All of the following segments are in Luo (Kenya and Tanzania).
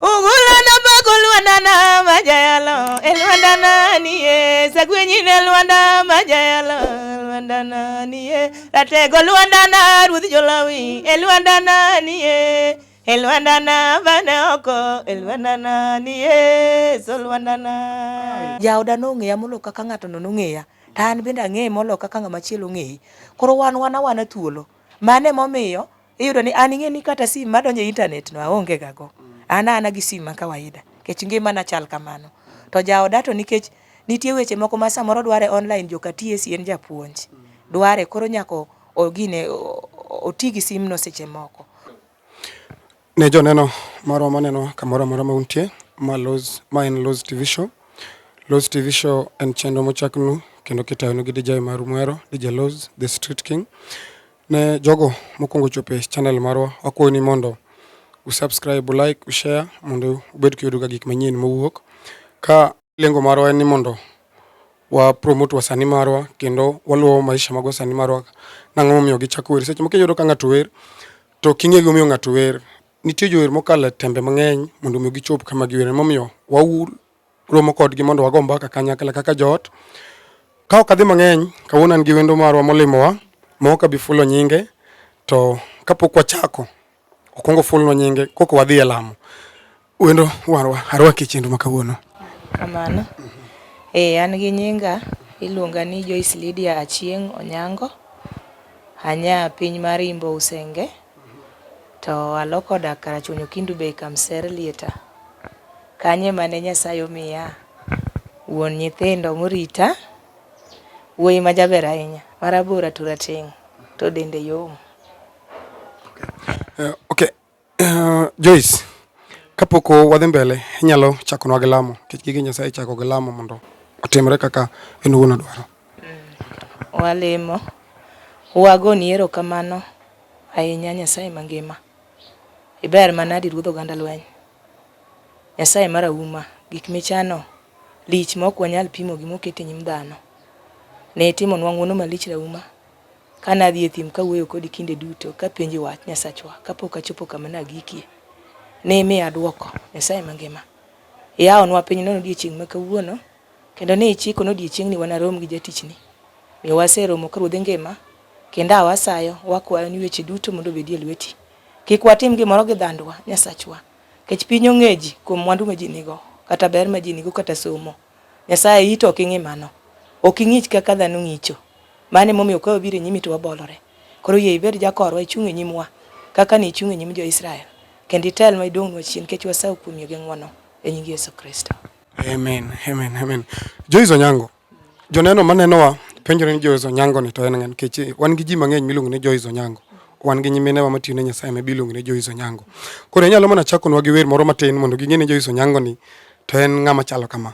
Ugulana bago lwandana majayalo e lwandana niye sagwenyine lwanda majayalo lwandana niye ratego lwandana ruodh jolawi e lwandana niye e lwandana bane oko e lwandana niye so lwandana jaoda nong'eya molo kaka ng'atono nong'eya to an bende ang'eye molo kaka ng'ama chielo ong'eye koro wan wan awana thuolo mane momiyo iyudo ni an ing'e ni kata sim madonjo e intanet no aonge gago an ana gi sim ma kawaida nikech ngimana chal kamano to jaoda to nikech nitie weche moko ma samoro dware online joka TSC en japuonj dware koro nyako ogine oti gi simno seche moko ne joneno marwa maneno kamoro amora ma untie ma Loz ma en Loz TV show Loz TV show en chenro mochaknu kendo kitayonu gi DJ maru mwero DJ Loz the street king Ne jogo mokwongo ochopo e channel marwa, wakwayo ni mondo usubscribe, ulike, ushare mondo ubed kiyudoga gik manyien mowuok. Ka lengo marwa en ni mondo wa promote wasani marwa kendo waluwo maisha mag wasani marwa nang'o momiyo gichako wer. Seche moko iyudo ka ng'ato wer to ok ing'e gimomiyo ng'ato wer. Nitie jower mokalo e tembe mang'eny mondo omi gichop kama giwer. Emomiyo romo kodgi mondo wago mbaka kanyakla kaka joot. Ka ok adhi mang'eny, kawuono an gi wendo marwa molimowa ma ok abi fulo nyinge, to kapok wachako okwongo fulnwa nyinge koko wadhi e lamo. Wendo warwa arwaki e chenro ma kawuono. Kamano. Ee, an gi nyinga iluonga ni Joyce Lydia Achieng' Onyango. Anya piny mar Imbo Usenge. To aloko odak Karachuonyo Kindu Bay Kamser Lieta kanye mane Nyasaye omiya wuon nyithindo morita wuoyi ma jaber ahinya marabora to rateng' to dende yom. Uh, okay. Uh, Joyce, kapok wadhi mbele inyalo chakonwa gi lamo nikech gige Nyasaye chako gi lamo mondo otimre kaka en owuon odwaro. Walemo, wagoni erokamano ahinya Nyasaye mangima. Iber manadi Ruodh oganda lweny. Nyasaye marahuma, gik michano lich ma ok wanyal pimo gi moket e nyim dhano. Ne itimonwa ng'wono malich rahuma, ka nadhi e thim kawuoyo kodi kinde duto kapenji wach Nyasachwa kapok achopo kama nagikie. Ne imiya dwoko Nyasaye mangima. Iyawonwa pinyno odiechieng' ma kawuono. Kendo ne ichiko ni odiechiengni wanarom gi jatichni. Omiyo waseromo ka ruodhi ngima, kendo a wasayo, wakwayo ni weche duto mondo obedi e lweti. Kik watim gimoro gi dhandwa, Nyasachwa, nikech piny ong'eji kuom mwandu ma ji nigo, kata ber ma ji nigo, kata somo. Nyasaye, iyi to ok ing'i mano. Ok ing'ich kaka dhano ng'icho. Mano e momiyo ka wabiro e nyimi to wabolore. Koro yie ibed jakorwa, ichung' e nyimwa, kaka ne ichung' e nyim jo-Israel, kendo itelnwa, iduongnwa chien, nikech wasayo kuomi gi ng'wono. E nying Yesu Kristo. Amen, amen, amen. Joyce Onyango, joneno manenowa penjore ni Joyce Onyango ni to en ng'an nikech wan gi ji mang'eny miluongo ni Joyce Onyango wan gi nyiminewa matiyo ne Nyasaye miluongo ni Joyce Onyango. Koro inyalo mana chakonwa gi wer moro matin mondo ging'e ni Joyce Onyango ni to en ng'ama chalo kama.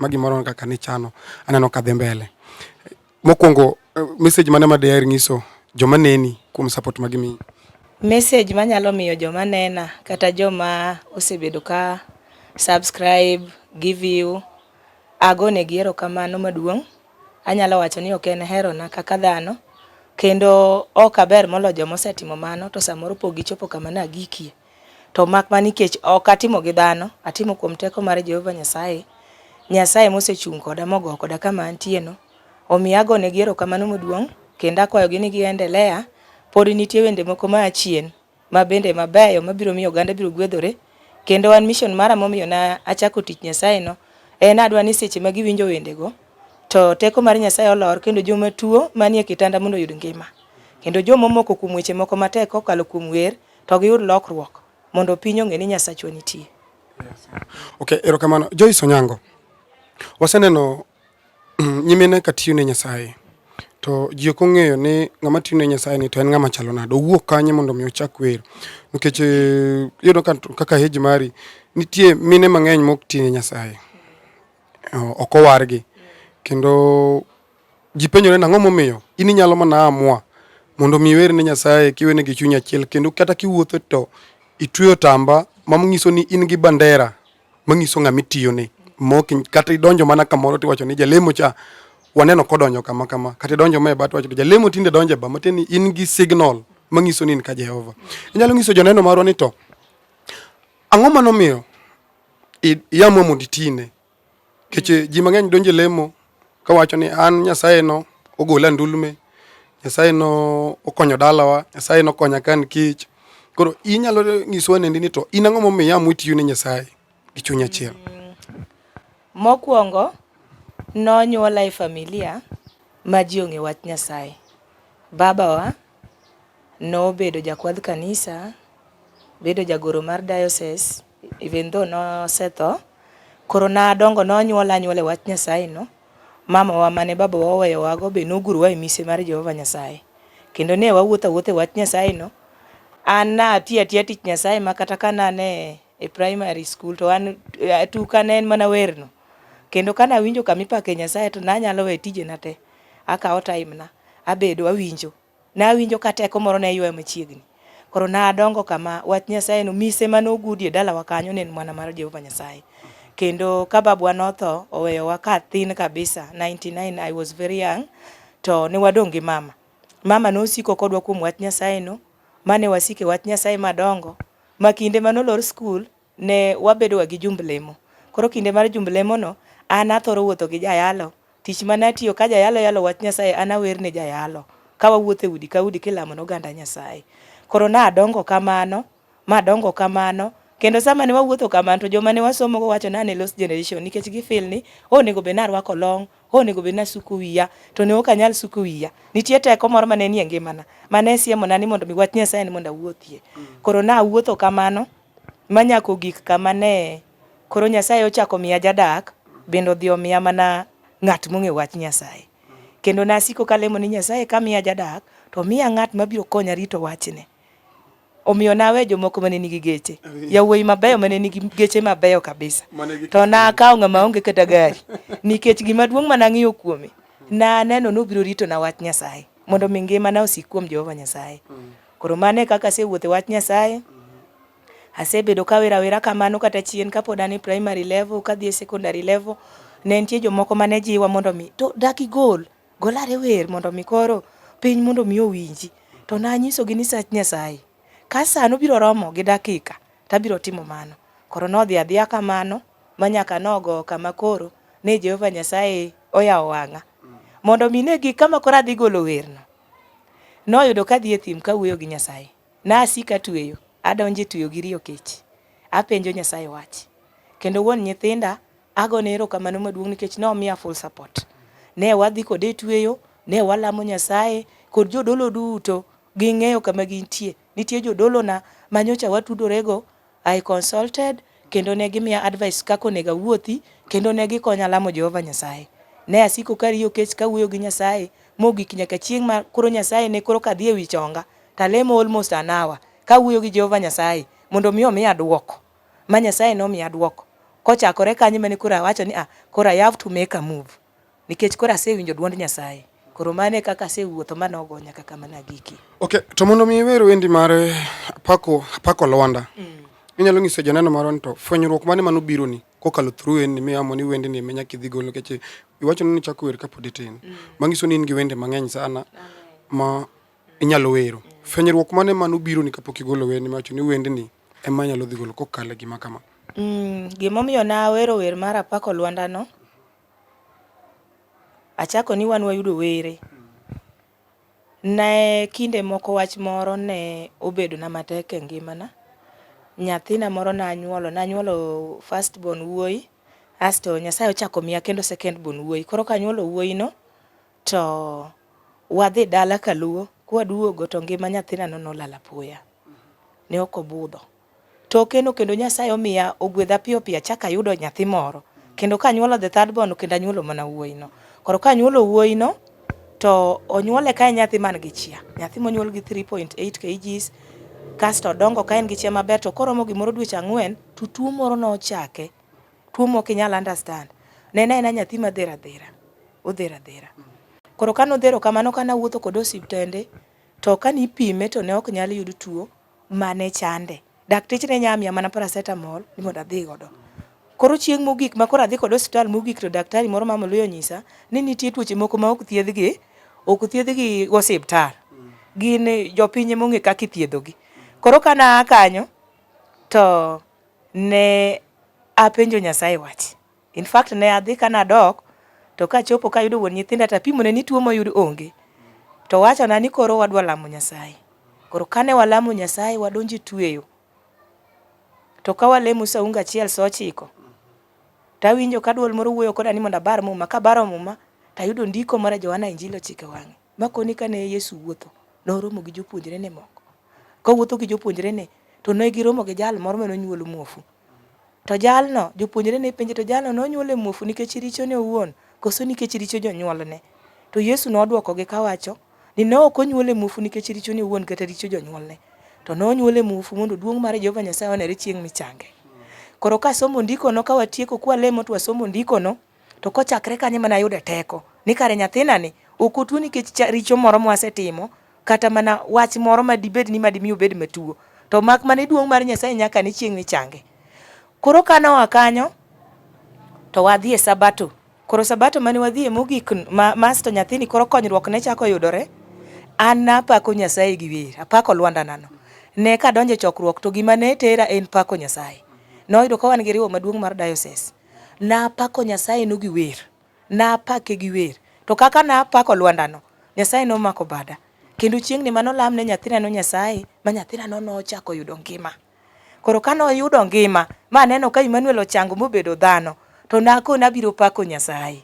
ma gimoro kaka nichano aneno ka dhi mbele. Mokwongo eh, message mane ma daher nyiso joma neni kuom support ma gimiyi? Message manyalo miyo joma nena kata joma osebedo ka subscribe, give you, agonegi erokamano maduong'. Anyalo wacho ni ok en herona kaka dhano kendo ok aber molo joma osetimo mano to samoro pok gichopo kama nagikie. To mak mana nikech ok atimo gi dhano, atimo kuom teko mar Jehova Nyasaye. Nyasaye mosechung' koda mogo koda kama antieno. Omiyo agonegi erokamano maduong' kendo akwayogi ni giendelea. Pod nitie wende moko ma achien ma bende mabeyo mabiro miyo oganda biro gwedhore. Kendo an mission mara momiyo na achako tich Nyasaye no en adwa ni seche ma giwinjo wendego to teko mar Nyasaye olor kendo joma tuo manie kitanda mondo oyud ngima. Kendo joma omoko kuom weche moko matek kokalo kuom wer to giyud lokruok mondo piny ong'e ni Nyasachwa nitie. Okay, erokamano. Joyce Onyango, waseneno mm, nyimine ka tiyo ne Nyasaye to ji ok ong'eyo ni ng'ama tiyo ne Nyasaye ni to en ng'ama chalo nade, owuok kanye mondo mi ochak wer nikech eh, iyudo kaka heji mari nitie mine mang'eny mok tiyo ne Nyasaye ok owargi kendo Ji penjore ni ang'o momiyo in inyalo mana amua mondo mi iwer ne Nyasaye kiwene gi chuny achiel kendo kata kiwuotho to itweyo tamba manyiso ni in gi bandera manyiso ng'ama itiyone mok kata idonjo mana kamoro tiwacho ni jalemo cha waneno kodonjo kama kama kata idonjo ma e bat wacho ni jalemo tinde donjo e ba matiende ni in gi signal manyiso ni in ka Jehova. Inyalo nyiso joneno marwa ni to ang'o manomiyo iamua mondo itine Keche ji mang'eny donje lemo kawacho ni an Nyasaye no ogola ndulme, Nyasaye no okonyo dalawa, Nyasaye no okonya ka an kech. Koro inyalo nyisowa nendi ni to in ang'o momiyo iamua tiyo ne Nyasaye gi chuny achiel? Mm, mokwongo nonyuola e familia ma ji ong'e wach Nyasaye. Babawa nobedo jakwadh kanisa, bedo jagoro mar diocese, Even though nosetho, koro nadongo nonyuol anyuol e wach Nyasaye no. Mamawa mane babawa oweyowago be nogurowa e mise mar Jehova Nyasaye. Kendo ne wawuotho awuotha e wach Nyasaye no. An natiyo atiya tich Nyasaye ma kata ka nane e primary school to an eh, tuka ne en mana werno. Kendo ka nawinjo kama ipake Nyasaye to nanyalo we tijena te. Akawo time na, abedo awinjo. Nawinjo ka teko moro ne ywaya machiegni. Koro nadongo kama, wach Nyasaye no, mise mane ogudi e dalawa kanyo ne en mana mar Jehova Nyasaye. Kendo ka babwa notho, oweyowa ka thin kabisa, 99, I was very young, to ne wadong' gi mama. Mama nosiko kodwa kuom wach Nyasaye no, mane wasike wach Nyasaye madongo, ma kinde mane olor skul, ne wabedoga gi jumb lemo. Koro kinde mar jumb lemono, an athoro wuotho gi jayalo. Tich ma natiyo, ka jayalo yalo wach Nyasaye, an awer ne jayalo, ka wawuotho e udi ka udi kilamo ne oganda Nyasaye. Koro nadongo kamano, madongo kamano, kendo sama ne wawuotho kamano, to joma ne wasomogo wacho ni an e lost generation, nikech gi feel ni, oh onego bed ni arwako long, oh onego bed ni asuko wiya, to ne ok anyal suko wiya. Nitie teko moro ma ne nie ngimana, ma ne siemona ni mondo mi wach Nyasaye ni mondo awuothie. Koro nawuotho kamano, ma nyaka ogik kama ne koro Nyasaye ochako miya jadak bende odhi omiya mana ng'at mong'e wach Nyasaye. Kendo nasiko kalemo ni Nyasaye kamiya jadak to miya ng'at mabiro konya rito wachne. Omiyo nawe jomoko mane nigi geche, yawuoyi mabeyo mane nigi geche mabeyo kabisa. To nakawo ng'ama onge kata gari nikech gima duong' ma nang'iyo kuome naneno nobiro rito na wach Nyasaye mondo mi ngima na osik kuom Jehova Nyasaye. Koro mano e kaka asewuotho e wach Nyasaye. Asebedo kawero awera kamano kata chien kapod an e primary level kadhi e secondary level. Ne nitie jomoko mane jiwa mondo mi to dak igol, gol are wer mondo mi koro piny mondo mi owinji. To nanyisogi ni sach Nyasaye, ka sa nobiro romo gi dakika tabiro timo mano. Koro nodhi adhiya kamano ma nyaka nogo kama koro ne Jehova Nyasaye oyawo wang'a mondo mi ne gik kama koro adhi golo werno. Noyudo ka adhi e thim ka awuoyo gi Nyasaye. Nasiko atweyo, adonjo e tweyo gi riyo kech. Apenjo Nyasaye wach. Kendo wuon nyithinda agone erokamano maduong' nikech nomiya full support. Ne wadhi kode e tweyo, ne walamo Nyasaye kod jodolo duto ging'eyo kama gintie. Nitie jodolona manyocha watudorego I consulted kendo ne gimiya advice kaka onego awuothi kendo ne gikonya lamo Jehova Nyasaye. Ne asiko ka ariyo kech ka awuoyo gi Nyasaye mogik nyaka chieng' ma koro Nyasaye ne koro kadhi ewi chonga to alemo almost an hour ka awuoyo gi Jehova Nyasaye mondo mi omiya duoko. Ma Nyasaye nomiya duoko. Kochakore kanyo emane koro awacho ni ah, koro I have to make a move. Nikech koro asewinjo dwond Nyasaye. Koro mano e kaka asewuotho ma nogo nyaka kama nagiki. Okay, to mondo mi iwer wendi mar eh, apako apako Lwanda. Mm. Inyalo nyiso janeno marwa ni to fwenyruok mane mano biro ni kokalo through en ni miamo ni wendi ni menya kidhi golo keche iwacho ni chako wer kapod itin. Mm. Mangiso ni in gi wende mang'eny sana ma inyalo wero. Mm. Fwenyruok mane mano biro ni kapok igolo wendi macho ni wendi ni ema anyalo dhi golo kokalo e gima kama. Mm, gimomiyo nawero wer mar apako lwandano, achako ni wan wayudo were. Ne kinde moko wach moro ne obedo na matek e ngimana. Nyathina moro nanyuolo, nanyuolo first born wuoyi, asto Nyasaye ochako miya kendo second born wuoyi. Koro kanyuolo wuoyino, To wadhi dala kaluo, kwaduogo to ngima nyathinano nolal apoya. Ne ok obudho. To okeno kendo Nyasaye omiya ogwedha piyo piyo achak ayudo nyathi moro. Kendo kanyuolo the third born kendo anyuolo mana wuoyino. Koro kanyuolo wuoyino to onyuole ka en nyathi man gi chia. Nyathi monyuol gi 3.8 kgs kasto odongo ka en gi chia maber to koromo gimoro dweche ang'wen to tuo moro nochake. Tuo mok inyal understand. Nena ena nyathi ma dhera dhera. Odhera dhera. Koro kane odhero kamano kane awuotho kode osiptende to kane ipime to ne ok nyal yud tuo mane chande. Dakteche ne nyalo miya mana paracetamol ni mondo adhi godo. Koro chieng' mogik ma koro adhi kode osiptal mogik to daktari moro mama Luya onyisa ni nitie tuoche moko ma ok thiedhgi, ok thiedhgi go osiptal. Gin jopiny ema ong'e kaka ithiedhogi. Koro kane aa kanyo to ne apenjo Nyasaye wach. In fact ne adhi ka nadok to kachopo kayudo wuon nyithinda to apimone ni tuo moyud onge. To wachona ni koro wadwa lamo Nyasaye. Koro kane walamo Nyasaye wadonjo e tueyo. To ka walemo saunga achiel sa ochiko, tawinjo ka dwol moro wuoyo koda ni mondo abar muma. Kabaro muma, tayudo ndiko moro e Johana Injili ochiko e wang'e. Makoni kane Yesu wuotho, noromo gi jopuonjrene moko. Kowuotho gi jopuonjrene, to ne giromo gi jal moro mane onyuolo muofu. To jalno, jopuonjrene penje, to jalno nonyuole muofu nikech richone owuon, koso nikech richo jonyuolne? To Yesu nodwokogi kawacho ni ne ok onyuole muofu nikech richone owuon kata richo jonyuolne, to ne onyuole muofu mondo duong' mar Jehova Nyasaye onere chieng' michange. Koro kasomo ndikono, ka watieko kwalemo to wasomo ndikono, To kochakre kanyo ema nayude teko ni kare nyathina ni ok otuo nikech richo moro mwasetimo kata mana wach moro ma dibed ni madimi obed matuo to mak mane duong' mar Nyasaye nyaka ne chieng' ni change. Koro ka noa kanyo to wadhi e Sabato. Koro Sabato mane wadhi e mogik ma, masto nyathini koro konyruok ne chako yudore. An napako Nyasaye gi wer, apako lwandanano. Ne kadonje chokruok to gima ne tera en pako Nyasaye. Noyudo ka wan gi riwo maduong' mar diocese. Napako Nyasayeno gi wer, napake gi wer. To kaka napako lwandano, Nyasaye nomako bada. Kendo chieng'ni mano lam ne nyathinano Nyasaye, ma nyathinano nochako yudo ngima. Koro ka noyudo ngima, ma aneno ka Emmanuel ochango mobedo dhano, to nakone abiro pako Nyasaye.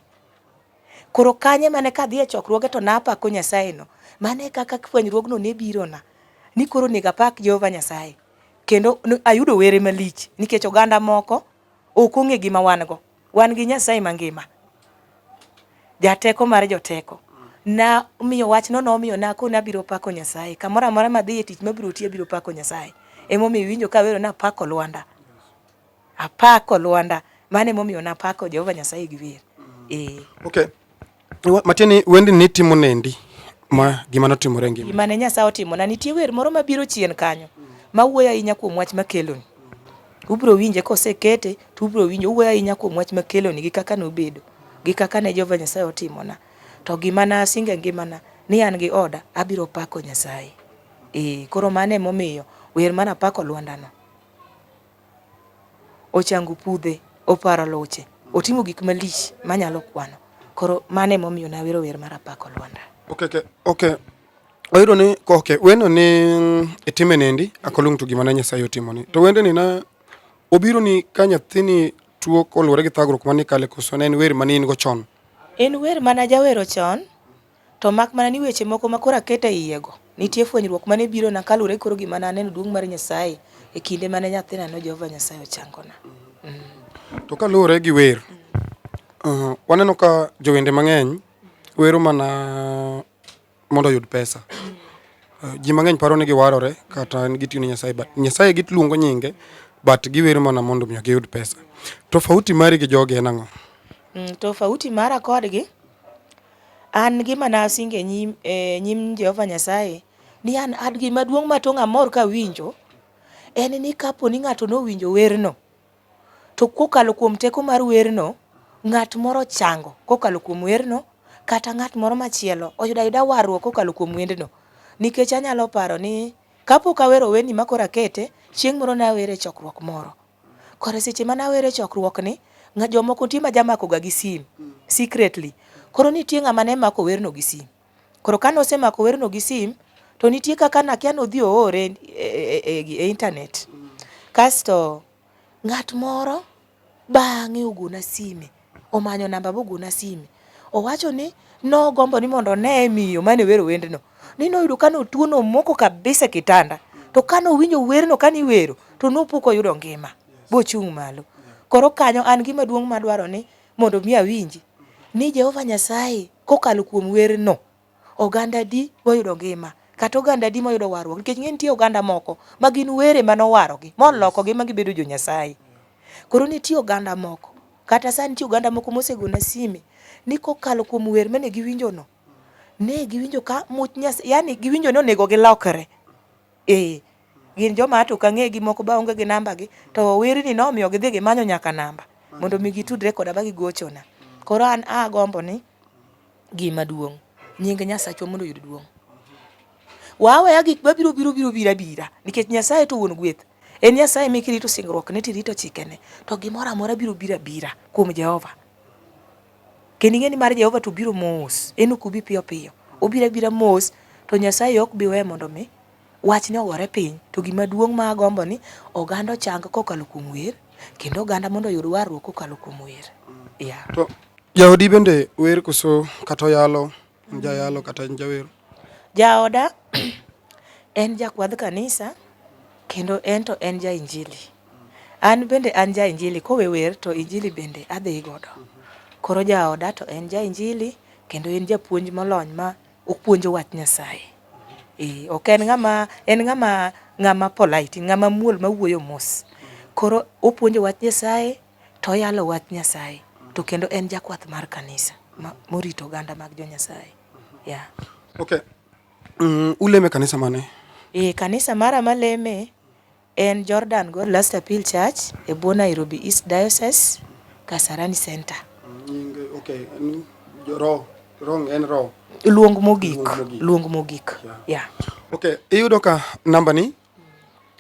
Koro kanye mane kadhi e chokruoge to napako Nyasayeno, mano e kaka fwenyruogno ne birona, ni koro onego apak Jehova Nyasaye. Kendo ayudo were malich nikech oganda moko Ok ong'e gima wan go. Wan gi Nyasaye mangima. Jateko mar joteko. Na miyo wach no nomiyo nako ni abiro pako Nyasaye. Kamoro amora madhi e tich mabiro tiye abiro pako Nyasaye. Emomiyo iwinjo ka awero ni apako Lwanda. Apako Lwanda. Mano emomiyo napako Jehova Nyasaye gi wer. Ee. Okay. matieni wendi ni timo nendi ma gima notimore ngima gima ne nyasaye otimo na nitie wer moro mabiro chien kanyo ma wuoyo ahinya kuom wach makeloni ubro winje kosekete to ubro winje owuoyo ahinya kuom wach makeloni gi kaka nobedo gi kaka ne jehova nyasaye otimona to gima na asinge ngimana ni an gi oda abiro pako nyasaye ee koro mano emomiyo wer mana pako lwandano ochango pudhe, oparo luche, otimo gik malich manyalo kwano. Koro mano ema omiyo nawero wer mar apako Lwanda. Okay, okay, okay. Oyudo ni koke weno ni mm, itime nendi akolung to gima na Nyasaye otimo ni. To wende ni na obiro ni ka nyathini tuo koluwore gi thagruok mani kale koso ne en wer mani in go chon. En wer mana jawero chon. To mak mana ni weche moko ma koro aketo e iyego, nitie fwenyruok ma ne birona kaluwore gi koro gima ne aneno duong' mar Nyasaye e kinde ma ne nyathinano Jehova Nyasaye ochangona. To kaluwore gi wer, waneno ka jowende mang'eny wero mana mondo oyud pesa. Ji mang'eny paro ni giwarore kata gitiyo ne Nyasaye but Nyasaye giluongo nyinge but giwero mana mondo omiyo giyud pesa. Tofauti mari gi jogi en ang'o? Tofauti mara kodgi, An gima nasingo e nyim, e nyim Jehova Nyasaye, ni an ad gima duong' ma tong' amor kawinjo, en ni kapo ni ng'ato nowinjo werno, to kokalo kuom teko mar werno, ng'at moro ochango kokalo kuom werno, kata ng'at moro machielo oyudo ayuda warruok kokalo kuom wendno. Nikech anyalo paro ni kapok awero wendni ma koro akete, chieng' moro nawere e chokruok moro. Koro seche mane awere chokruok ni, nga jomoko nitie ma jamako ga gi sim secretly. Koro nitie ng'ama ne mako werno gi sim. Koro kane osemako werno gi sim, to nitie kaka nakia nodhi oore e, e, e, e internet. Kasto ng'at moro bang'e ogona sime omanyo namba mogona sime. Owacho ni nogombo ni mondo oneye miyo mane wero wendno. Ni noyudo ka notuo nomoko kabisa e kitanda. To ka nowinjo werno ka niwero to nopo koyudo ngima bochung' malo. Koro kanyo an gima duong' madwaro ni mondo mi awinji ni Jehova Nyasaye kokalo kuom werno Oganda adi moyudo ngima, kata oganda adi moyudo warruok? Nikech ing'e nitie oganda moko ma gin were mane owarogi, molokogi ma gibedo jo Nyasaye. Koro nitie oganda moko, kata sani nitie oganda moko mosegona sime ni kokalo kuom wer mane giwinjo no, ne giwinjo ka much Nyasaye, yani giwinjo ni onego gilokre. Ee, gin joma ato ok ang'egi moko be aonge gi namba gi, to werni nomiyo gidhi gimanyo nyaka namba mondo mi gitudre koda ma gigochona. Koro an agombo ni. Gima duong'. Nying Nyasachwa mondo oyud duong'. Waweya gik ma biro biro biro bira bira nikech Nyasaye to wuon gweth. En Nyasaye mi kirito singruok ne tirito chikene to gimoro amora biro bira bira kuom Jehova. Kendo ing'e ni mar Jehova to biro mos. En ok obi piyo piyo. Obira bira mos to Nyasaye ok biwe mondo mi Wachni ogore piny, to gima duong' ma agombo ni oganda ochang kokalo kuom wer, kendo oganda mondo oyud warruok kokalo kuom wer. Yeah. To jaodi bende wer koso kata oyalo, en jayalo kata en jawer? Jaoda en jakwadh kanisa kendo en to en ja injili. An bende an ja injili, kowe wer to injili bende adhi godo. Koro jaoda to en ja injili kendo en japuonj molony ma Opuonjo wach Nyasaye. Ee, ok en ng'ama en ng'ama ng'ama polite, ng'ama muol mawuoyo mos. Koro opuonjo wach Nyasaye to oyalo wach Nyasaye to kendo en jakwath mar kanisa ma, morito oganda mag jo Nyasaye. Yeah. Okay. Mm, uleme kanisa mane? Ee, kanisa mara maleme En Jordan God Last Appeal Church e bwo Nairobi East Diocese, Kasarani Centre. Nying okay, en roho wrong en roho. Luong mogik, luong mogik. Yeah. yeah. Okay, iyudo ka namba ni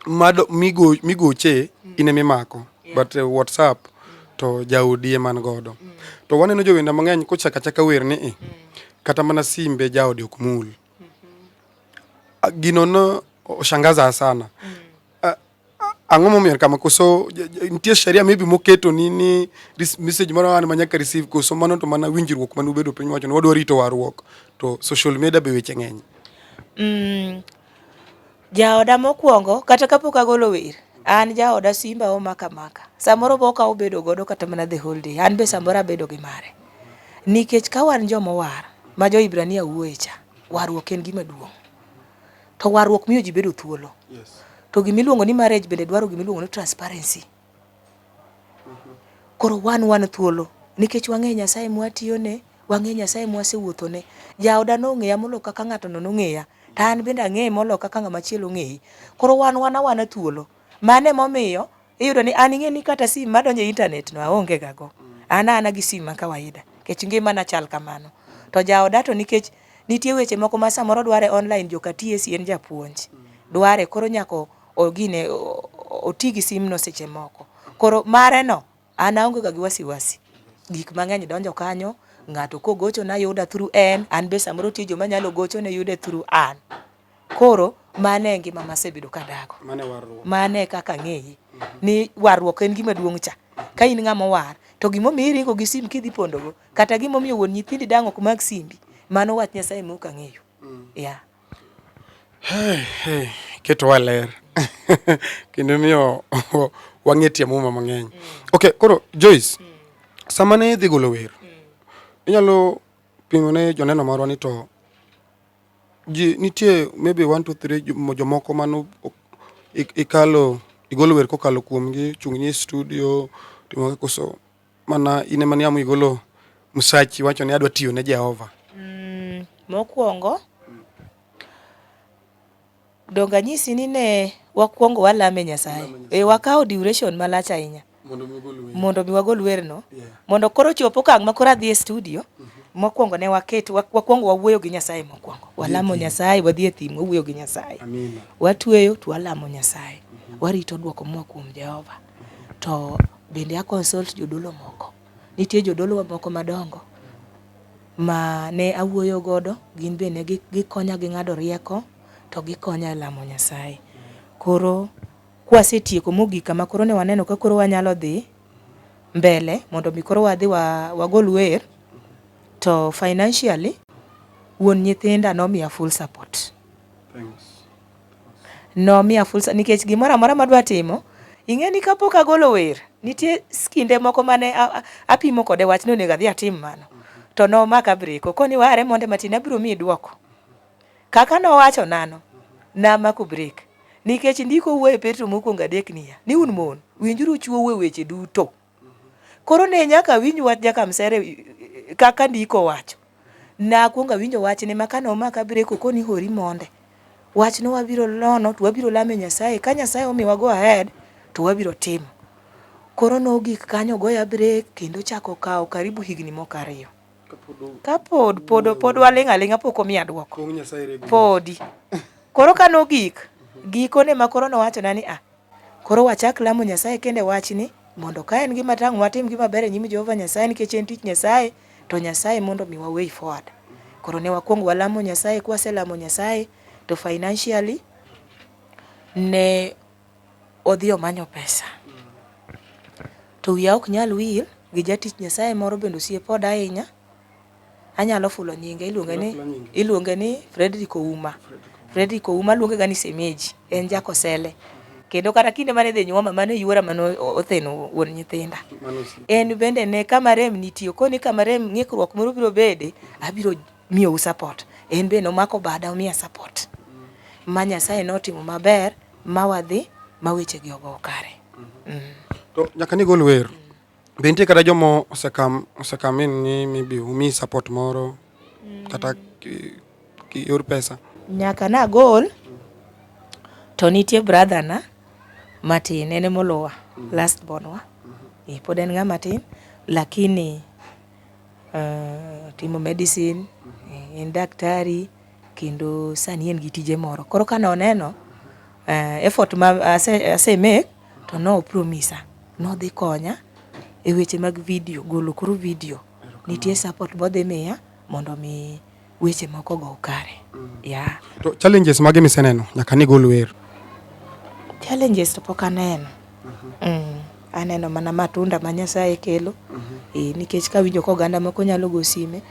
mado migo migoche mm. ine mimako yeah. but uh, WhatsApp to jaudi eman godo. Mm. To waneno jowenda mang'eny kochaka chaka wer ni mm. kata mana simbe jaodi ok mul. mm -hmm. uh, ginono oshangaza sana mm. uh, ang'o momiyo kama koso nitie sheria maybe moketo ni ni message moro an manyaka receive koso mano to mana winjruok mane ubedo piny wacho ni wadwa rito warruok to social media be weche ng'eny mm. Jaoda mokwongo kata kapok agolo wer an jaoda simba omaka maka samoro bo okawo bedo godo kata mana the whole day an be samoro abedo gi mare nikech ka wan jomowar ma jo Ibrania wuoye cha warruok en gima duong' to warruok miyo ji bedo thuolo to gima iluongo ni marriage bende dwaro gima iluongo ni transparency Koro wan wan thuolo nikech wang'eyo Nyasaye mwatiyone, wang'eyo Nyasaye mwasewuothone. Jaoda nong'eya moloyo kaka ng'atono nong'eya, to an bende ang'eye moloyo kaka ng'ama chielo ong'eye. Koro wan wan awana thuolo. Mano emomiyo iyudo ni an ing'eni kata sim madonjo e intanetno aonge ga go. An a ana gi sim ma kawaida nikech ngimana chal kamano. To jaoda to nikech nitie weche moko ma samoro dware online joka TSC en japuonj, dware koro nyaka ogine oti gi simno seche moko. Koro mare no an aonge ga gi wasiwasi. Gik mang'eny donjo kanyo, ng'ato kogochona yuda through en, an be samoro tie joma anyalo gochone yude through an. Koro mano e ngima masebedo kadago. Mano e kaka ang'eye ni warruok en gima duong' cha. Ka in ng'ama owar to gimomiyo iringo gi sim kidhi pondogo kata gimomiyo wuon nyithindi dang' ok mak simbi, mano wach Nyasaye mok ang'eyo. Yeah. Iketowa ler kendo imiyo wang'e tie muma mang'eny. Ok, koro Joyce, sama ne idhi golo wer, inyalo pingo ne joneno marwa ni to ji nitie maybe one two three jomoko mano ikalo igolo wer kokalo kuomgi, chung'ni e studio, timo koso Mana in ema niamu igolo msachi wacho ni adwa tiyo ne Jehova. Mm, mokwongo donge anyisi ni ne wakwongo walame Nyasaye. E, wakawo duration malach ahinya mondo mi wagol werno yeah. mondo koro chop okang' ma koro adhi e studio mm -hmm. mokwongo ne waket wakwongo wawuoyo gi Nyasaye mokwongo walamo yeah. Nyasaye wadhi e thim wawuoyo gi Nyasaye watweyo to walamo Nyasaye mm -hmm. warito dwoko moa kuom Jehova mm -hmm. to Bende a consult jodolo moko. Nitie jodolo wa moko madongo ma ne awuoyo godo, gin be ne gikonya gi ng'ado rieko to gikonya e lamo Nyasaye. Koro kwasetieko mogik kama koro ne waneno ka koro wanyalo dhi mbele mondo mi koro wadhi wagol wer. To financially wuon nyithinda nomiya full support. Nomiya fursa nikech gimoro amora madwa timo. Ing'e ni kapok agolo wer, nitie kinde moko mane apimo kode wach ni onego adhi atim mano. To nomaka breko koni ware monde matin abiro miyi dwoko. Kaka nowacho nano, namako brek. Nikech ndiko wuoyo e Petro mokwongo adek niya, ni un mon, winjuru chwou e weche duto. Koro ne nyaka awinj wach Jakamsere e, e, kaka ndiko wacho. Nakwongo awinjo wachne ma kane omaka breko koni hori monde. Wachno wabiro lono to wabiro lame Nyasaye. Ka Nyasaye omiwa go ahead to wabiro timo. Koro nogik kanyo ogoya brek kendo chako kawo karibu higni moko ariyo. Ka pod pod pod waling' aling'a pok omiya dwoko. Podi. Koro ka nogik gikone ma koro nowachona ni a ah, Koro wachak lamo Nyasaye kende wachni, mondo ka en gima tang' watim gima ber e nyim Jehova Nyasaye nikech en tich Nyasaye, to Nyasaye mondo omiwa way forward. Koro ne wakwong walamo Nyasaye, kwaselamo Nyasaye to financially ne odhi omanyo pesa. To wiya ok nyal wil gi jatich Nyasaye moro bende osiepa oda ahinya, Anyalo fulo nyinge, iluonge ni iluonge ni Fredrick Ouma. Fredrick Ouma luonge ga ni Semeji, en jakosele. Kendo kata kinde mane dhi nyuoma mane yuora mane otheno wuon nyithinda. En bende ne kama rem nitie, okoni kama rem ng'ikruok moro biro bede, abiro miyou support. En bende omako bada omiya support. Ma Nyasaye notimo maber, ma wadhi, ma weche gi ogo kare. Mm. To nyaka nigol wer. Be nitie kata jomo osekam osekam in ni maybe umi support moro kata ki- ki- yor pesa? nyaka nagol to nitie brother na matin en emoluwa last born wa Eh, pod en ng'ama tin lakini uh, timo medicine eh, en daktari kendo sani en gi tije moro koro kane oneno uh, effort ma ase, ase make to no promise a ni odhi konya e weche mag video, golo koro video. Nitie support be odhi miya mondo mi weche moko ogo kare. Yeah. To challenges mage miseneno nyaka ni gol wer? Challenges to pok aneno. Mm. Aneno mana matunda ma Nyasaye kelo. Eh, nikech kawinjo ka oganda moko nyalo go sime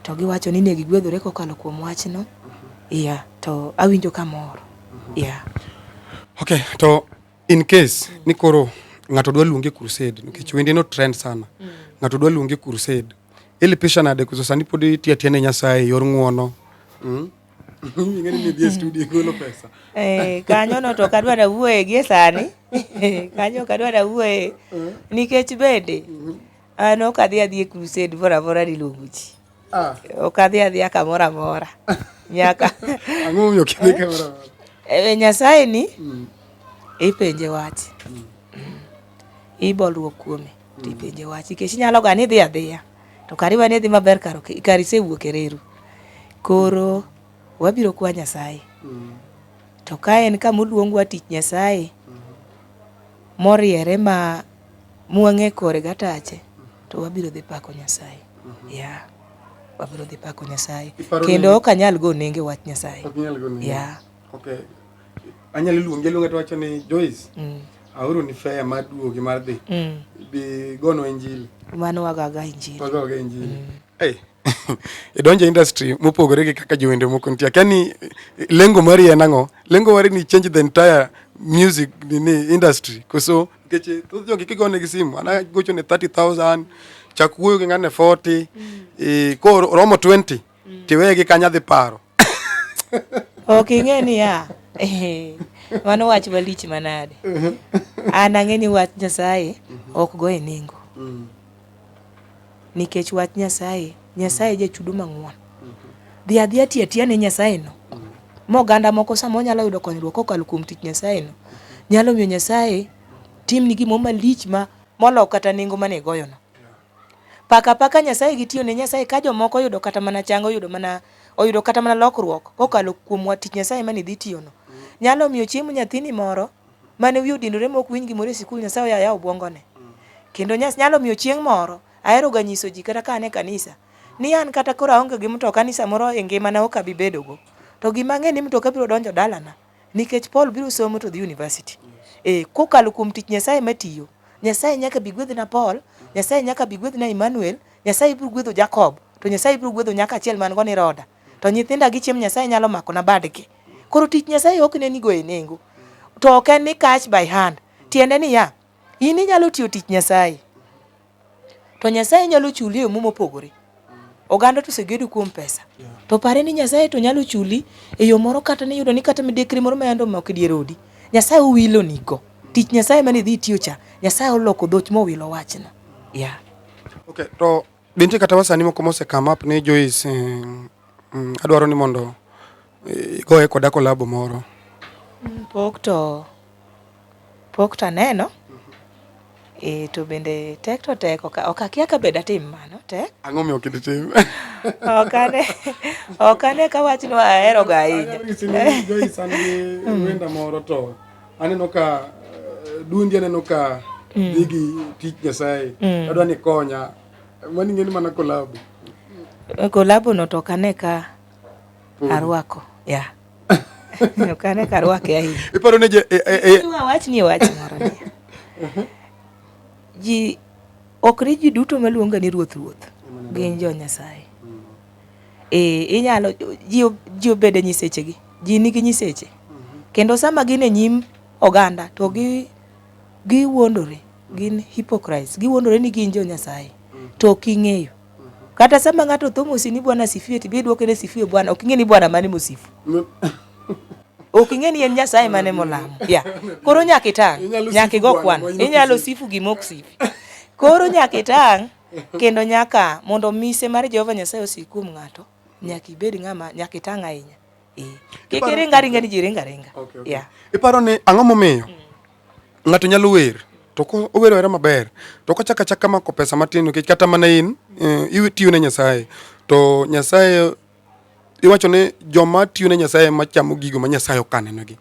to giwacho ni ne gigwedhore kokalo kuom wachno. Yeah, to awinjo kamor. Yeah. Okay, to in case mm. ni koro ng'ato dwa luonge crusade nikech mm. wende no trend sana. Mm. Ng'ato dwa luonge crusade. Ili pisha nade kuzo sani pod itia tiene Nyasaye yor ng'uono. Mm. Ingeni ni dhie studio golo pesa. Eh, kanyo no to kadwa da wuoye gie sani. kanyo kadwa da wuoye. Mm. Nikech bende. Mm. Ano kadhi adhi e crusade vora vora diluongo ji. Ah. Okadhi adhiya kamoro amora. Nyaka. Ang'o momiyo ok idhi kamoro amora? E Nyasaye ni mm. ipenje wach. Mm. Ibolruok kuome mm. tipenje wach nikech inyalo ga ni idhi adhiya to kari wane dhi maber karo kari sewuok e reru. Koro wabiro kwa Nyasaye. Mm. To ka en kama oluongwa tich Nyasaye moriere ma mwang'e kore gatache to wabiro dhi pako Nyasaye. Yeah. Wabiro dhi pako Nyasaye. Iparo ni- Kendo ok anyal go nenge wach Nyasaye. Ok inyal go nenge. Yeah. Okay. Anyalo luonge luonge to wacho ni Joyce, Mm. aoro ni fare mar duogi mar dhi. Mm. Bi gono injili. Mano wagaga injili. Wagoga injili. Eh, idonjo e industry mopogore gi kaka jowende moko nitie akia ni lengo mari en ang'o lengo mari ni change the entire music ni industry koso nikech eh, thoth jogi kigone gi simu ana gocho ne 30000 chak wuoyo gi ng'ane 40 mm. e, eh, koro romo 20 mm. tiweye gi kanya dhi paro ok ing'e niya eh, mano wach malich manade an ang'e ni wach nyasaye ok go e nengo mm. nikech wach nyasaye nyasaye jachudo mang'won dhi adhi ati atiya ne nyasaye no moganda moko sama onyalo yudo konyruok kokalo kuom tich nyasaye no nyalo miyo nyasaye timni gimo malich ma molok kata nengo mane igoyono Paka apaka Nyasaye gi tiyo ne Nyasaye ka jomoko oyudo kata mana chang, oyudo mana oyudo kata mana lokruok kokalo kuom wa tich Nyasaye mane idhi tiyono. Nyalo miyo chiemo nyathini moro mane wiye odinore mok winj gimoro e sikul Nyasaye oya yaw obwongone. Kendo nyas nyalo miyo chieng' moro ahero ga nyiso ji kata ka an e kanisa ni an kata koro aonge gi mtoka ni samoro e ngimana ok abi bedogo. To gima ang'e ni mtoka biro donjo dalana Nikech Paul biro somo to dhi university. Eh, kokalo kuom tich Nyasaye matiyo. Nyasaye nyaka bi gwedhna Paul, Nyasaye nyaka bi gwedhna Emmanuel, Nyasaye biro gwedho Jacob, to Nyasaye biro gwedho nyaka achiel man go ni Roda. To nyithinda gi chiemo Nyasaye nyalo mako na badgi. Koro tich Nyasaye ok ne nigo e nengo. To ok en ni catch by hand. Tiende ni ya, in inyalo tiyo tich Nyasaye. To Nyasaye nyalo chuli e yo mopogore. Oganda to osegedo kuom pesa. To pare ni Nyasaye to nyalo chuli e yo moro kata ni yudo ni kata midekre moro ma yande omako dier odi. Nyasaye owilo nigo. Tich Nyasaye mane idhi itiyo cha, Nyasaye oloko dhoch mowilo wachno. Yeah. Okay, to binti kata wasani moko mose come up ni Joyce, eh, mm, adwaro ni mondo Igoye koda kolabo moro. Mm, pok to pok to aneno e, to bende tek to tek ok akia ka bed atim mano tek ang'o miyo kidi tim ok ane ok ane ka wachno ahero ga ahinya mm. wenda moro to aneno ka eh, dundi aneno ka mm. digi tich nyasaye mm. adwa ni konya mani ng'eni mana kolabo kolabo no to ok ane ka mm. arwako yeah. ok ane ka arwake ahinya iparo ni e, e, e, wach ni wach moro ni uh-huh. ji ok ni ji duto maluonga ni ruoth ruoth gin jo nyasaye mm. e, inyalo ji obede nyisechegi ji nigi nyiseche mm-hmm. kendo sama gin e nyim oganda to gi giwuondore gin hypocrites giwuondore ni gin jo nyasaye mm. to ok ing'eyo Kata sama ng'ato tho mosi ni Bwana sifiwe tibi iduoke ni sifiwe Bwana, ok ing'e ni Bwana mane mosifu. Ok ing'e ni en Nyasaye mane molamo. Ya. Koro nyaka itang', nyaka igo kwan. Inyalo sifu gima ok sifi. Koro nyaka itang' kendo nyaka mondo mise mar Jehova Nyasaye osik kuom ng'ato, nyaka ibed ng'ama nyaka itang' ahinya. Eh. Kik iring aringa ni ji ringa ringa. Okay, okay. Yeah. Iparo ni ang'o momiyo? Mm. ng'ato nyalo wer to owero era maber to kochaka chaka mako pesa matin nikech kata mana in eh, itiyo ne Nyasaye to Nyasaye iwacho ni joma tiyo ne Nyasaye machamo gigo ma Nyasaye okanenegi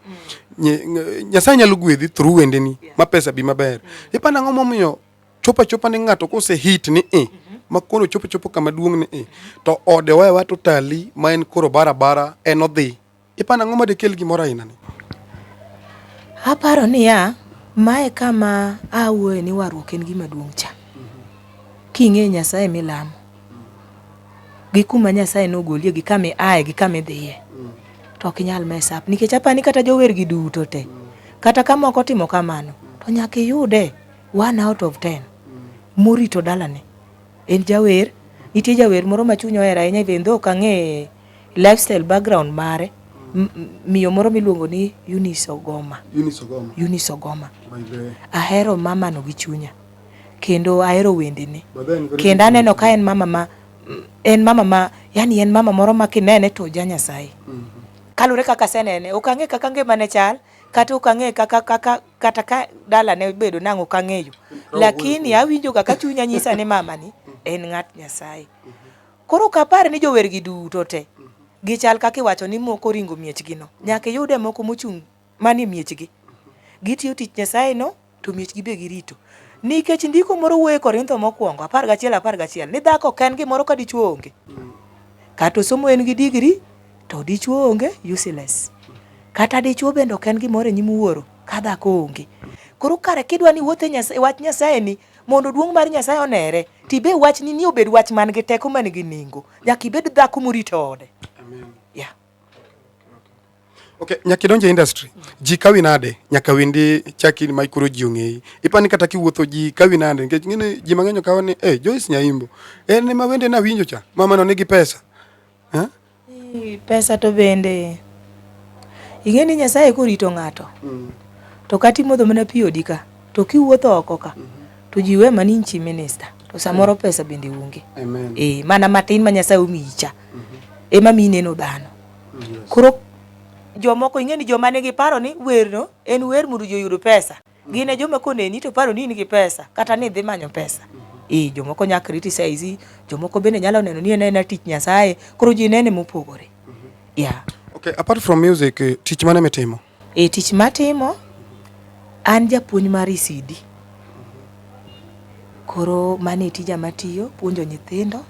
mm. Nyasaye nyalo gwedhi through wendeni ma pesa bi maber mm. ipana ang'o momiyo chopa chopa ni ng'ato kose hit ni e ma koro chopo chopo kama duong' ni e to ode owewa to tali ma en koro barabara en odhi Iparo ang'o ma dekel gimoro ainani? Aparo niya, mae kama awuoye ni warruok en gima duong' cha. King'eyo Nyasaye milamo, gi kuma Nyasaye nogolie, gi kama iaye, gi kama idhiye, to ok inyal mess up. Nikech aparo ni kata jower gi duto te, kata ka moko otimo kamano, to nyaka iyude one out of ten morito dalane. En jawer, nitie jawer moro ma chunya ohero ahinya even though ok ang'e lifestyle background mare miyo moro miluongo ni Eunice Ogoma. Eunice Ogoma. Eunice Ogoma. Ahero mama no gi chunya kendo ahero wendene kendo aneno ka en mama ma en mama ma yani en mama moro ma kinene to ja Nyasaye. Mm -hmm. Kalure kaka asenene ok ang'e kaka ngimane chal kata ok ang'e kaka kaka kata ka dala ne bedo nang'o ok ang'eyo lakini awinjoga ka chunya nyisa ni mama ni en ng'at Nyasaye. Mm -hmm. Koro ok apar ni jowergi duto te gichal kaka iwacho ni moko ringo miechgino. Nyaka iyude moko mochung' manie miechgi. Gitiyo tich Nyasayeno to miechgi be girito. Nikech ndiko moro wuoyo e Korintho mokwongo apar gachiel apar gachiel ni dhako ok en gimoro ka dichwo onge. Kata osomo en gi digri to dichwo onge, useless. Kata dichwo bende ok en gimoro e nyim wuoro ka dhako onge. Koro kare kidwa ni iwuoth e wach Nyasayeni, Mondo duong' mar Nyasaye onere, to ibe wachni ni obed wach man gi teko man gi nengo. Nyaka ibed dhako morito ode. Amen. Yeah. Okay, nyaka idonje industry. Ji kawi nade? Nyaka wendi chaki ma ikoro ji ong'eyi. Ipani kata kiwuotho ji kawi nade nikech ngine ji mang'eny okawo ni eh Joyce Nyaimbo. En ema wende na winjo cha. Mama no nigi pesa. Eh? Pesa to bende ing'e ni Nyasaye korito ng'ato mm. to kata imodho mana pi odi ka to kiwuotho oko ka mm-hmm. to ji we mana in chi minista to samoro mm. pesa bende onge e, mana matin ma Nyasaye omiyi cha mm-hmm. ema mi ineno dhano mm, koro jomoko ing'e ni joma nigi paro ni werno en wer mondo ji oyud pesa Gin e joma koneni to paro ni in gi pesa kata ni idhi manyo pesa. Ee, jomoko nyaka criticize, jomoko bende nyalo neno ni en en tich Nyasaye, koro ji nene mopogore. Yeah. Okay, apart from music, eh, tich mane mitimo? E tich matimo an japuonj mar ECD. Koro mane tija matiyo puonjo nyithindo.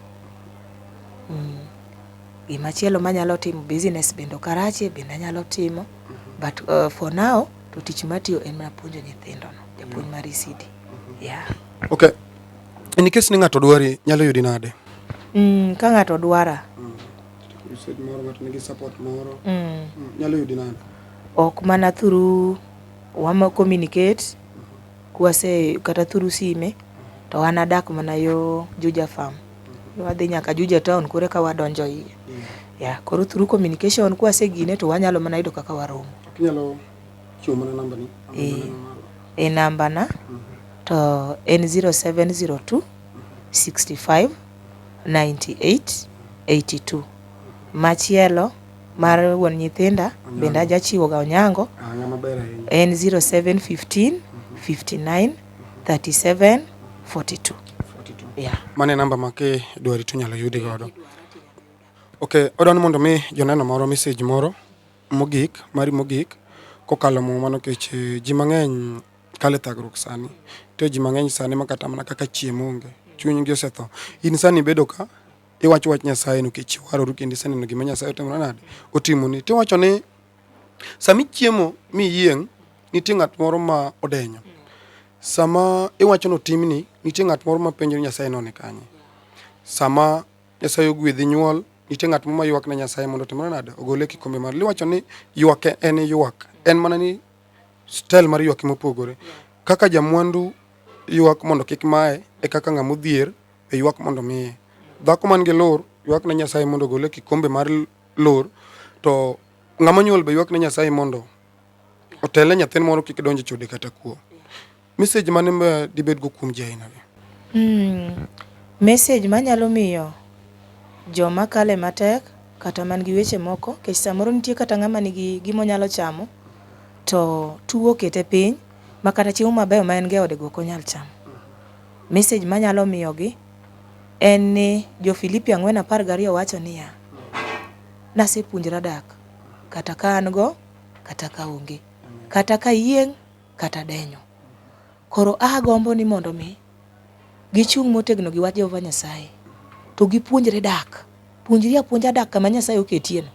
Mm. Gima chielo manyalo timo business bende Karachi bende anyalo timo. But uh, for now to tich matiyo en mana puonjo nyithindono, japuonj mar ECD. Yeah. Okay. In case ni ng'ato dwari, nyalo yudi nade? Mm, ka ng'ato dwara. Mm. You said moro ng'ato nigi support moro. Mm. Mm. Nyalo yudi nade? Ok mana through wama communicate Kwase kata through sime to an adak mana yo Juja farm. Wadhi nyaka Juja town koro eka wadonjo iye. Yeah, koro through communication kwase gine to wanyalo mana yudo kaka waromo. Inyalo chiwo mana namba ni. Eh, e namba na to en 0702 65 98 82. Machielo mar wuon nyithinda bende ajachiwo ga onyango en 0715 59 37 42 yeah. mano e namba ma kidwari to inyalo yudi godo ok odwa ni mondo mi joneno moro message moro mogik mari mogik kokalo mo mano kech eh, ji mang'eny kale thagruok sani to ji mang'eny sani makata mana kaka chiemo onge chunygi osetho in sani ibedo ka iwacho wach Nyasaye nikech iwaroru kendo iseneno gima Nyasaye otimore nade otimoni to iwacho ni sama ichiemo mi iyieng' nitie ng'at moro ma odenyo sama iwacho ni otimni nitie ng'at moro ma penjo ni Nyasaye none kanye sama Nyasaye ogwedhi nyuol nitie ng'at moro ma ywak ne Nyasaye mondo otimore nade ogole e kikombe mar liwacho ni ywak e- en ywak en mana ni stel mar ywak mopogore kaka jamwandu ywak mondo kik maye e kaka ng'ama odhier e ywak mondo miye. Dhako man gi lur ywak ne Nyasaye mondo ogole e kikombe mar lur, to ng'ama nyuol be ywak ne Nyasaye mondo otele nyathine moro kik donje chode kata kuo. Message mane ma dibed go kuom ji aina ni? Mm, message manyalo miyo joma kale matek kata man gi weche moko kech samoro nitie kata ng'ama nigi gimo nyalo chamo to tuo kete piny makata chiemo mabeyo ma en go e ode go ok onyal chamo. Message manyalo miyogi en ni jo Filipi ang'wen apar gariyo wacho niya, nasepuonjra dak kata ka an go kata ka onge, kata ka yieng' kata denyo. Koro agombo ni mondo mi gichung' motegno gi wach Jehova Nyasaye to gipuonjre dak. Puonjri apuonja dak kama Nyasaye oketiyeno.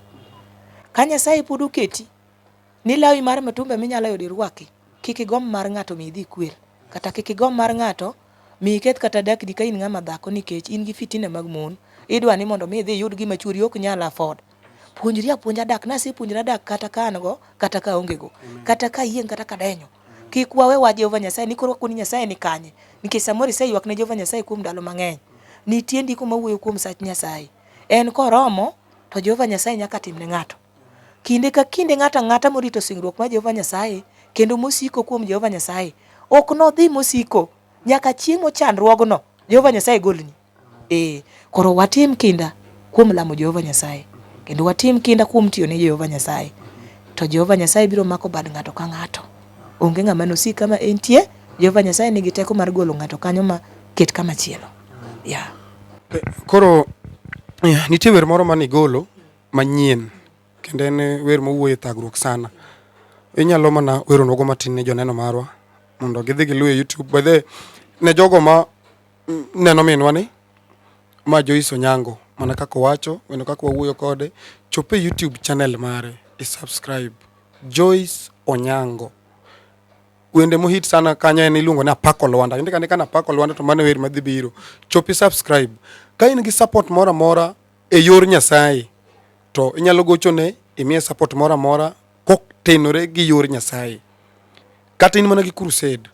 Ka Nyasaye pod oketi. Ni lawi mar mitumba minyalo yudo irwaki, kik igomb mar ng'ato mi idhi ikwer, kata kik igomb mar ng'ato mi iketh kata dakdi ka in ng'ama dhako nikech in gi fitina mag mon, idwa ni mondo mi idhi iyud gima chwori ok nyal afford. Puonjri apuonja dak, nasepuonjra dak kata ka an go, kata ka aonge go, kata ka ayieng' kata ka adenyo. Kik wawe wach Jehova Nyasaye ni koro wakuo ni Nyasaye ni kanye, nikech samoro iseywak ne Jehova Nyasaye kuom ndalo mang'eny. Nitie ndiko ma wuoyo kuom sach Nyasaye, en koromo to Jehova Nyasaye nyaka tim ne ng'ato. Kinde ka kinde ng'ato ang'ata morito singruok mar Jehova Nyasaye kendo mosiko kuom Jehova Nyasaye ok nodhi mosiko nyaka chieng' mochandruogno Jehova Nyasaye golni. Ee, koro watim kinda kuom lamo Jehova Nyasaye kendo watim kinda kuom tiyo ne Jehova Nyasaye. To Jehova Nyasaye biro mako bad ng'ato ka ng'ato. Onge ng'ama nosik kama entie. Jehova Nyasaye nigi teko mar golo ng'ato kanyo ma ket kama chielo. Yeah. Koro eh, nitie wer moro mane igolo manyien kendo en wer mowuoye thagruok sana. Inyalo mana weronwa go matin ne joneno marwa mondo gidhi giluw e YouTube. By the ne jogo ma neno minwa ni ma Joyce Onyango mana kaka owacho wendo kaka wawuoyo kode chop e YouTube channel mare i subscribe Joyce Onyango. Wende mohit sana kanyo en iluongo ni Apako Lwanda. Indika ni kana Apako Lwanda to mano wer madhi biro. Chop i subscribe. Ka in gi support mora mora e yor Nyasaye to inyalo gochone imiye support moro amora kotenore gi yor Nyasaye. Kata in mana gi crusade,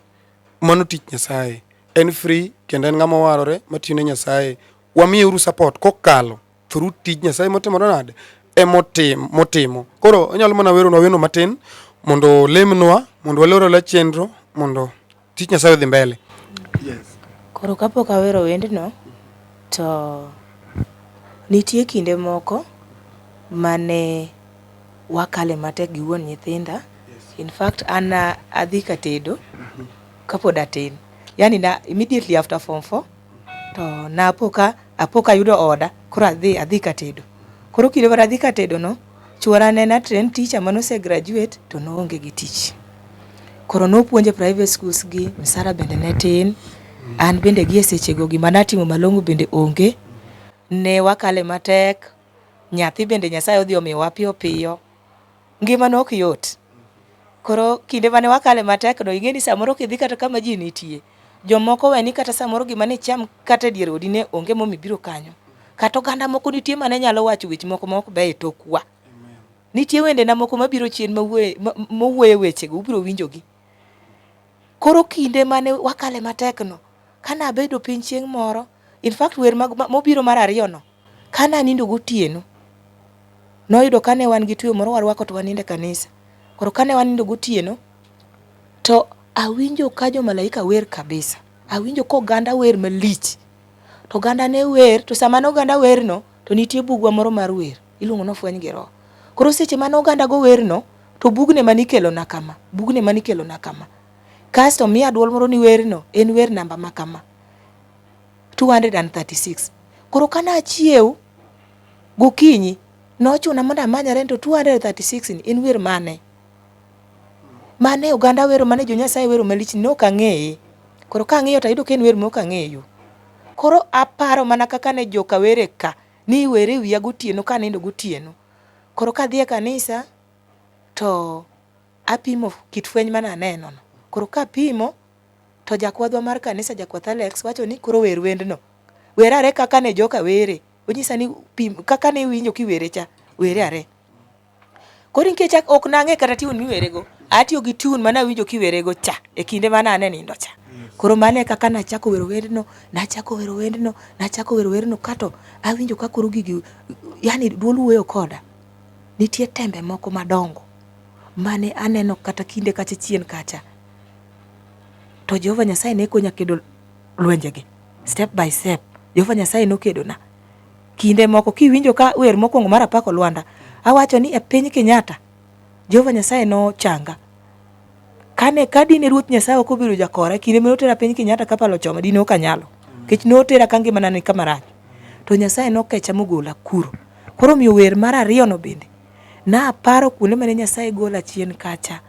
mano tich Nyasaye. En free kendo en ng'ama warore matiyo ne Nyasaye. Wamiye uru support kokalo through tij Nyasaye motimore nade emotim motimo. Koro onyalo mana weronwa weno matin mondo olemnwa mondo walorela chenro mondo Tich Nyasaye odhi mbele. Yes. Koro kapok awero wendno to nitie kinde moko mane wakale matek gi wuon nyithinda. In fact an adhi ka tedo kapod atin. Yani na immediately after form 4 To napoka apoka ayudo oda koro adhi adhi ka tedo. Koro kinde mane adhi ka tedo no, chwora ne en train teacher mane ose graduate to noonge gi tich. Koro nopuonja e private schools gi, msara bende ne tin. An bende gi e seche go gima natimo malong'o bende onge. Ne wakale matek, nyathi bende Nyasaye odhi omiyowa piyo piyo. ngima ne ok yot. Koro kinde mane wakale matek no ing'e ni samoro kidhi kata kama ji nitie, jomoko weni kata samoro gima ne icham kata e dier odi ne onge momi biro kanyo. Kata oganda moko nitie mane nyalo wacho weche moko maok beyo e tokwa. Nitie wendena moko mabiro chien mowuoye wechego, ubiro winjogi. Koro kinde mane wakale matek no, kane abedo piny chieng' moro, in fact wer mobiro mar ariyo no, Kane anindo gotieno, noyudo kane wan gi tweyo moro warwako to wanindo e kanisa. Koro kane wanindo gotieno, to awinjo ka jo malaika wer kabisa. Awinjo ka oganda wer malich. To oganda ne wer, to sama ne oganda werno, to nitie bugwa moro mar wer, iluongo ni ofweny gi roho. Koro seche mane oganda go werno, to bugne mane ikelona kama, bugne mane ikelona kama. Kasto miya dwol moro ni werno en wer namba ma kama. 236. Koro kane achiew gokinyi nochuna mondo amanyare to 236 ni en wer mane? Mane oganda wero mane jo Nyasaye wero malich ni ok ang'eye. Koro ka ang'iyo to ayudo ka en wer mok ang'eyo. Koro aparo mana kaka ne joka were ka ni were wiya gotieno ka nindo gotieno. Koro kadhi e kanisa to apimo kit fweny mane aneno no. Koro kapimo To jakwadhwa mar kanisa jakwath Alex wacho ni koro wer wendno. Wer are kaka ne joka were. Onyisa ni pim kaka ne iwinjo kiwere cha, were are. Koro nikech ak- ok nang'e kata tiun miwerego, atiyo gi tiun mana winjo kiwerego cha e kinde mana ane nindo cha. Koro mane kaka nachako wero wendno, nachako wero wendno, nachako wero wendno kato awinjo ka koro gigi yani duol wuoyo koda. Nitie tembe moko madongo mane aneno kata kinde kacha chien kacha. to Jehova Nyasaye ne konya kedo lwenjegi step by step. Jehova Nyasaye nokedona. Kinde moko kiwinjo ka wer mokwongo mar apako Lwanda, awacho ni e piny Kenyatta, Jehova Nyasaye nochanga. Kane ka dine Ruoth Nyasaye ok obedo jakora, e kinde mane otera piny Kenyatta kapalo choma, dine ok anyalo. Nikech notera ka ngimana ni kama rach. To Nyasaye nokecha mogola kuro. Koro omiyo wer mar ariyono bende Naparo kuonde mane Nyasaye gola chien kacha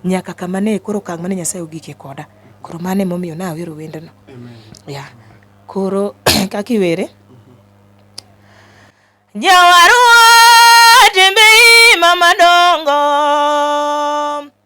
nyaka kama ne koro okang' mane Nyasaye ogike koda. Koro mano emomiyo nawero wendno. Ya, koro kaka iwere. Jawarwa tembe ima madongo.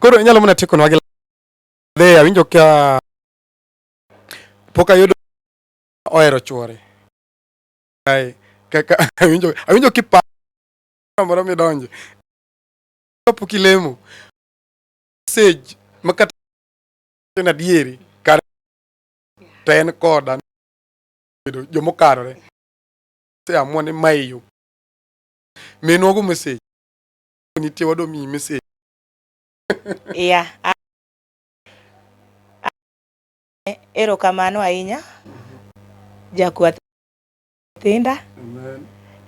Koro inyalo mana tieko nwa gi dhe awinjo ka pok ayudo ohero chuore. Ai kaka awinjo awinjo kipa moro midonje. Kapok ilemo. message ma kata en adieri kar to en koda bedo jomo karore se amua ni mae yo minwa go message nitie wado mi message yeah erokamano ahinya jakwath thinda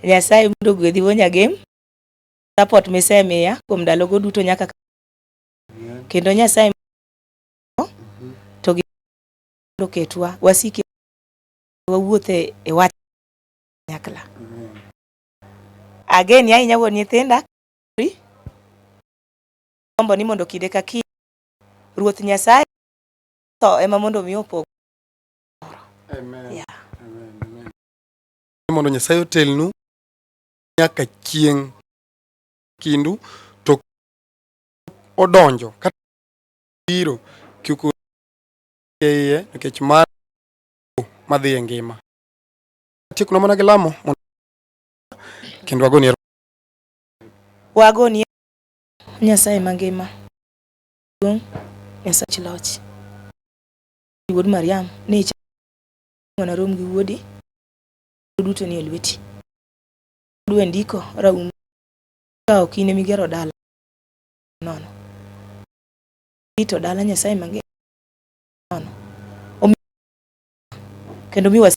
nyasaye mondo gwedhi wonyagem support misemiya kuom ndalogo duto nyaka kendo Nyasaye to gi ketwa wasiki wawuothe e wach nyakla again ya inya wuon nyithinda ombo ni mondo kide ka kinde ruoth Nyasaye to ema mondo mi opog amen yeah. amen amen mondo Nyasaye otelnu nyaka chieng' kindu to odonjo kata biro kik iye nikech mar madhi e ngima. Atiekno mana gi lamo kendo wagoni wagoni Nyasaye mangima duong' Nyasach loch wuod Mariam ni ichwana rom gi wuodi duto ni e lweti. ndiko raum ka ok in emigero dala nono. Irito dala Nyasaye mangima nono. Omi kendo mi was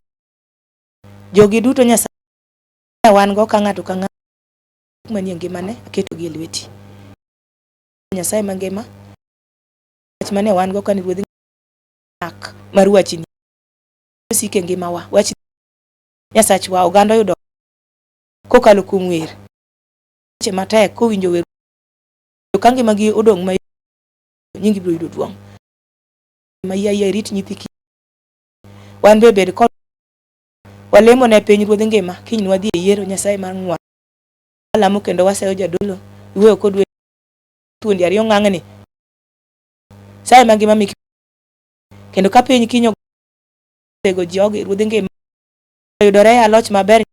jogi duto Nyasaye wan go ka ng'ato ka ng'ato manie ngimane aketo gi e lweti. Nyasaye mangima wach mane wan go kane ruodhi mak mar wachini osike ngimawa wach Nyasachwa, oganda oyudo kokalo kuom wer weche matek kowinjo wer ka ngimagi odong' ma nyingi biro yudo duong' ma yaya irit nyithi kich wan be bed kod walemo ne piny ruodh ngima kiny wadhi e yiero nyasaye mar ng'wa alamo kendo wasayo jadolo iweyo kod we thuondi ariyo ng'ang'ni saye ma ngima miki kendo ka piny kinyo tego ji oge ruodh ngima yudore e aloch maber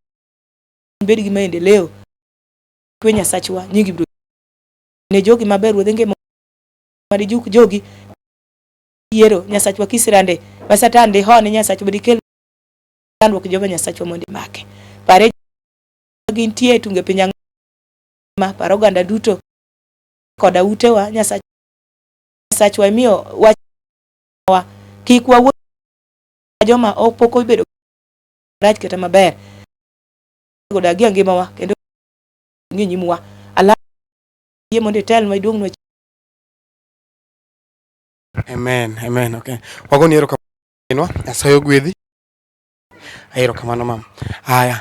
bed gi maendeleo kwe nyasachwa nyingi bro ne jogi maber ruodh ngima mari juk jogi yiero nyasachwa kisirande ma satan ndi hone nyasachwa bedi kel chandruok joga nyasachwa mondi make pare gintie tunge piny angima paro ganda duto koda utewa nyasachwa nyasachwa imiyo wach wa kik wawuo joma ok pok obedo rach kata maber godagi e ngimawa kendo ng'i nyimwa ala yie mondo itelnwa iduongnwa Amen, amen, okay. Wagoni ero kamanwa, asayo gwedhi. Ero kamano mam. Haya.